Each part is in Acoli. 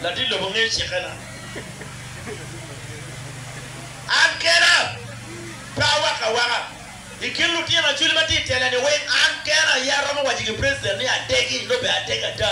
Latit lobo ngeyo cikkena. An kena pe awako awaka. I kin lutino Acholi ma tye i tela-ni weng, an kena aye aromo waco ki president ni adegi, nongo bene adeg ada.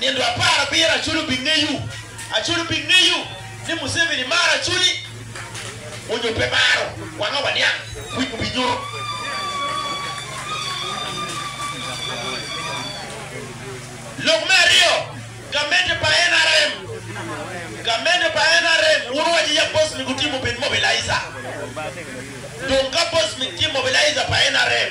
Nino apar abiro aculo pi ngeyu, aculo pi ngeyu ni Museveni maro aculi onyo pe maro wanga waniang wic mu bi nyuto. Lok me aryo gamente pa nrm gamente pa nrm wun waco ya boss mi gutimo obed mobilizer dong ka boss mi tye mobilizer pa nrm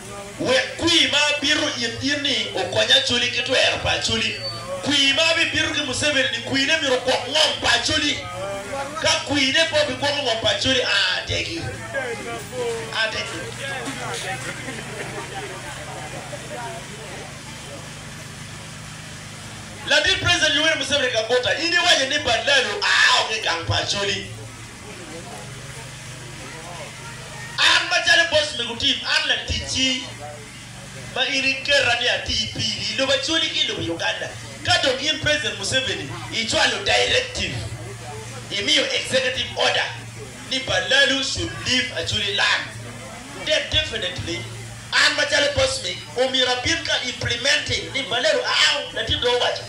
Wek kwir ma abito it in-ni okony Acholi ki twero pa Acholi. Kwir ma abibito ki Museveni-ni, kwirne myero ogwok ngom pa Acholi. Ka kwirne pe obigwoko ngom pa Acholi, a ategi. A ategi. Ladit President Yoweri Museveni Kaguta, in iwaco ni Badlalo a oko i gang pa Acholi. An macalo boc me gutim, an laticci ma in iketa ni ati piri i lobo Acholi ki i lobo Uganda. Ka dong in President Museveni icwalo directive, imiyo executive order ni Balalu should leave Acholi land, then definitely an macalo boc me omyero abin ka implementing ni Balalu out, latin dong owaco.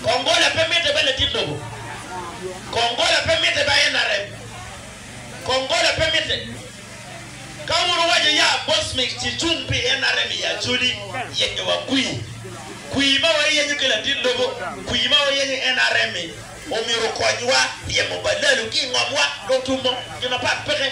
Kong gola pe mitte ba ladit lobo. Kong gola pe mitte ba NRM. Kong gola pe mitte. Ka wun wuwaco ya boss mi ci cung pi NRM i Acholi, yenyo wa kwii. Kwii ma wayenyo ki ladit lobo, kwii ma wayenyo NRM mi omyero okonywa ryemo balalu ki ingom wa, lotumo, gin mapat peke.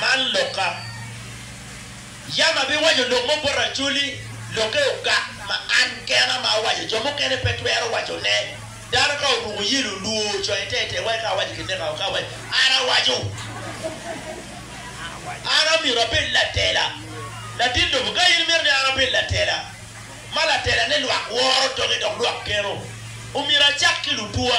Man lokka. Yam abiwaco lok mo bot Acholi, lokke ogak ma an kena ma awaco, jo mukene pe twero wacone. Dano ka oruko yelo, olwor, ocoyo tetei, wai ka awaco kineka o, ka awaco, An awaco! An omyero abed latela. Latin lobo, ka in imito ni an abed latela, ma latelane lwak woro toke dok lwak geno, omyero acak ki lutwa.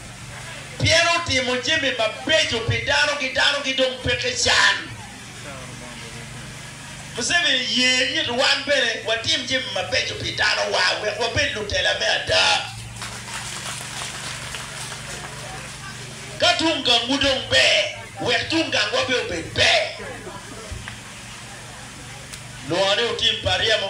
pien otimo jami mabeco pi dano ki dano ki dong peke can. Museveni ye it wan bene watim jami mabeco pi dano wa wek wabed lutela me ada. Ka tung gang wu dong ber wek tung gang wa bene obed ber. Lwongo ni otim pa ryemo.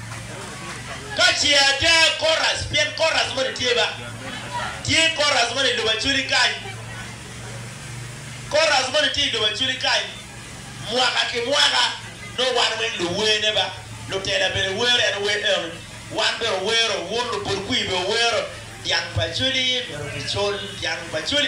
Ka ce ada Korac, pien Korac moni tye ba, tye Korac moni i lobo Aculi kany, Korac moni tye i lobo Aculi kany, mwaka ki mwaka, nongo wan weng luwene ba, lutela bene wero, en ower enoni, wan bene owero, wun lubul kwir bene wuwero, Dyang pa Aculi myero kicul, Dyang pa Aculi.